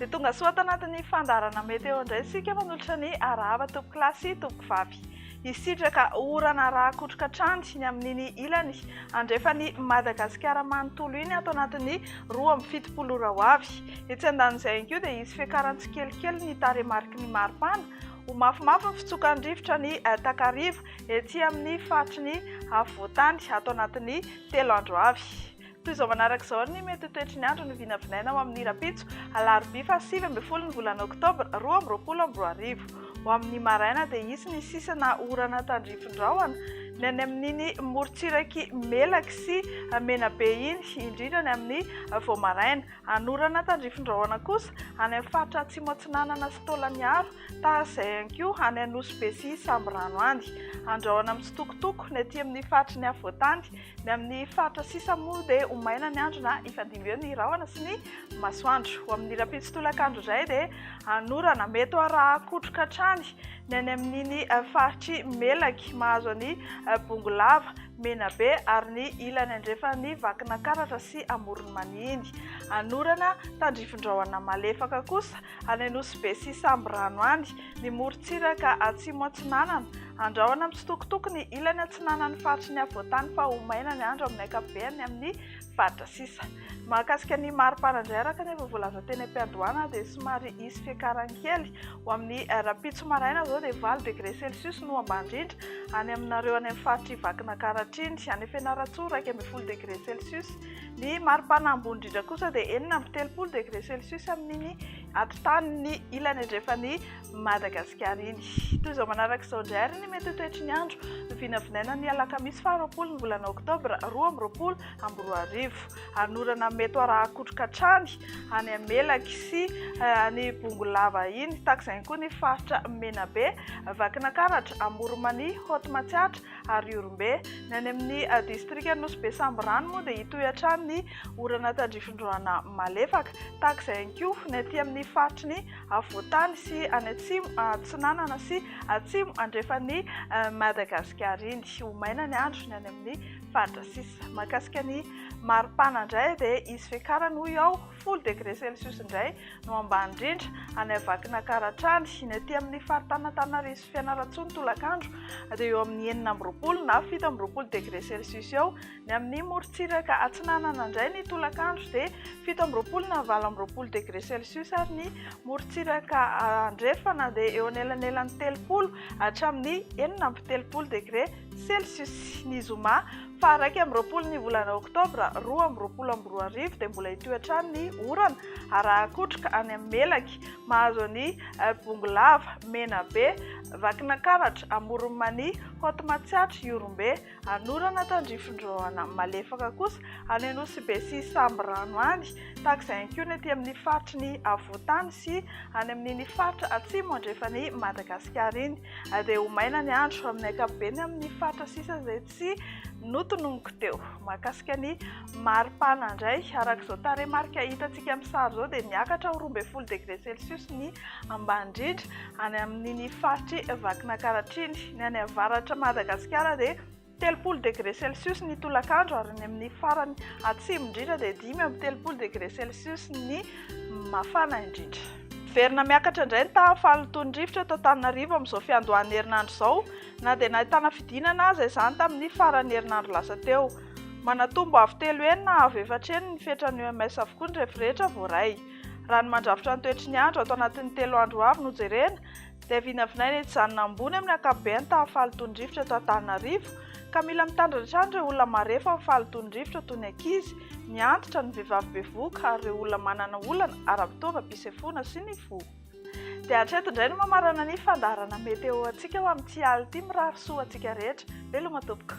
Dia tonga soa tanatin'ny fandaharana meteo indray isika manolotra ny arahaba tompoko lahy sy tompoko vavy. Hisitraka orana rakotroka hatrany ny amin'iny ilany andrefan'i Madagasikara manontolo iny ato anatin'ny roa amby fitopolo ora ho avy. Etsy andanin'izay ihany koa dia hisy fiakaran'ny tsikelikely ny taremariky ny maripana Ho mafimafy ny fitsokan'ny rivotra ny takariva etsy amin'ny faritry ny afovoan-tany ato anatin'ny telo andro avy. Toy izao manaraka izao ny mety ho toetry ny andro no vinavinaina ho amin'ny rahampitso, alarobia faha sivy ambin'ny folo ny volana oktobra roa amby roapolo amby roa arivo. Ho amin'ny maraina dia hisy ny sisana orana tandrify rahona ny any amin'iny morontsirak'i Melaky sy Menabe iny, indrindra ny amin'ny vao maraina. Anorana tandrifindrahona kosa any amin'ny faritra Atsimo Atsinanana sy Taolagnaro, tahaka izay ihany koa any Anosibe sy Sambirano any. Andrahona mitsitokotoko ny aty amin'ny faritry ny afovoantany. Ny amin'ny faritra sisa moa dia ho maina ny andro na hifandimby eo ny rahona sy ny masoandro. Ho amin'ny rahampitso tolakandro indray dia anorana mety ho arahan-kotroka hatrany ny any amin'iny faritr'i Melaky mahazo an'i Bongolava. Menabe ary ny ilany andrefan'i Vakinakaratra sy Amoron'i Manihiny. Anorana, tandrifindrahona malefaka kosa any Anosibe sy Sambirano any, ny morontsiraka atsimo atsinanana. Andrahona mitsitokotoko ny ilany atsinanan'ny faritry ny afovoantany fa ho maina ny andro amin'ny ankapobeny amin'ny faritra sisa. Mahakasika ny maripana indray araka ny efa voalaza teny am-piandohana dia somary hisy fiakarany kely. Ho amin'ny rahampitso maraina izao dia valo degré celsius no ambany indrindra any aminareo any amin'ny faritr'i Vakinankaratra iny. Any Fianarantsoa iraika ambin'ny folo degré celsius. Ny maripana ambony indrindra kosa dia enina amby telopolo degré celsius amin'iny atotanin'ny ilany andrefan'i Madagasikara iny. Toy izao manaraka izao indray ary ny mety ho toetry ny andro. Vinavinaina ny alakamisy faharoapolo ny volana oktobra roa amby roapolo amby roa arivo ary ny orana mety arahakotroka hatrany any amin'ny Melaky sy any Bongolava iny tahaka izay ihany koa ny faritra Menabe, Vakinankaratra, Amoronmania, Haute Matsiatra ary Ihorombe. Ny any amin'ny distrikan'i Nosy be Sambirano moa dia hitohy hatrany ny orana tandrifin-drahona malefaka tahaka izay ihany koa ny aty amin'ny faritry ny afovoantany sy any atsimo atsinanana sy atsimo andrefan'i Madagasikara iny. Ho maina ny andro ny any amin'ny faritra sisa. Mahakasika ny maripana indray dia hisy fiakarany hoy aho, folo degré celsius indray no ambany indrindra any Vakinankaratra hatrany. Ny aty amin'ny faritany Antananarivo sy Fianarantsoa ny tolakandro dia eo amin'ny enina amby roapolo na fito amby roapolo degré celsius eo. Ny amin'ny morontsiraka atsinanana indray ny tolakandro dia fito amby roapolo na valo amby roapolo degré celsius ary ny morontsiraka andrefana dia eo anelanelan'ny telopolo hatramin'ny enina amby telopolo degré Celsius, ny zoma faha iraika amby roapolo ny volana oktobra roa amby roapolo amby roa arivo dia mbola hitohy hatrany ny orana araha-kotroka any amin'ny Melaky, mahazo an'i Bongolava, Menabe, Vakinankaratra, Amoron'i Mania, Haute Matsiatra, Ihorombe, Anorana, Tandrifindroana, malefaka kosa any Anosibe sy Sambirano any, tahaka izay ihany koa ny aty amin'ny faritry ny Afovoantany sy any amin'iny faritra atsimo andrefan'i Madagasikara iny. Andeha ho maina ny andro amin'ny ankapobeny amin'ny faritra sisa izay tsy notononiko teo. Mahakasika ny mari-pana indray, araka izao tarehimarika hitantsika amin'ny sary izao dia miakatra ho roa ambin'ny folo degré celsius ny ambany indrindra any amin'iny faritr'i Vakinankaratra iny. Ny any avaratr'i Madagasikara dia Telopolo degre celsius ny tolakandro ary ny amin'ny farany atsimo indrindra dia dimy amby telopolo degre celsius ny mafana indrindra. Miverina miakatra indray ny tahan'ny fahalotoan'ny rivotra eto Antananarivo amin'izao fiandohan'ny herinandro izao, na dia nahitana fidinana aza izany tamin'ny faran'ny herinandro lasa teo. Manatombo avo telo heny na avo efatra heny ny fetran'ny OMS avokoa ny refirehetra voaray. Raha ny mandrafitra ny toetry ny andro ato anatin'ny telo andro ho avy no jerena, izay vinavinaina etsy izany na ambony amin'ny ankapobeny tamin'ny fahalotoan'ny rivotra eto Antananarivo ka mila mitandrina hatrany ireo olona marefo amin'ny fahalotoan'ny rivotra toy ny ankizy, ny antitra, ny vehivavy bevohoka ary ireo olona manana olana ara-pitaovam-pisefoana sy ny fo. Dia hatreto indray no mamarana ny fandaharana meteo antsika ho amin'ity alina ity, mirary soa ho antsika rehetra. Veloma tompoko.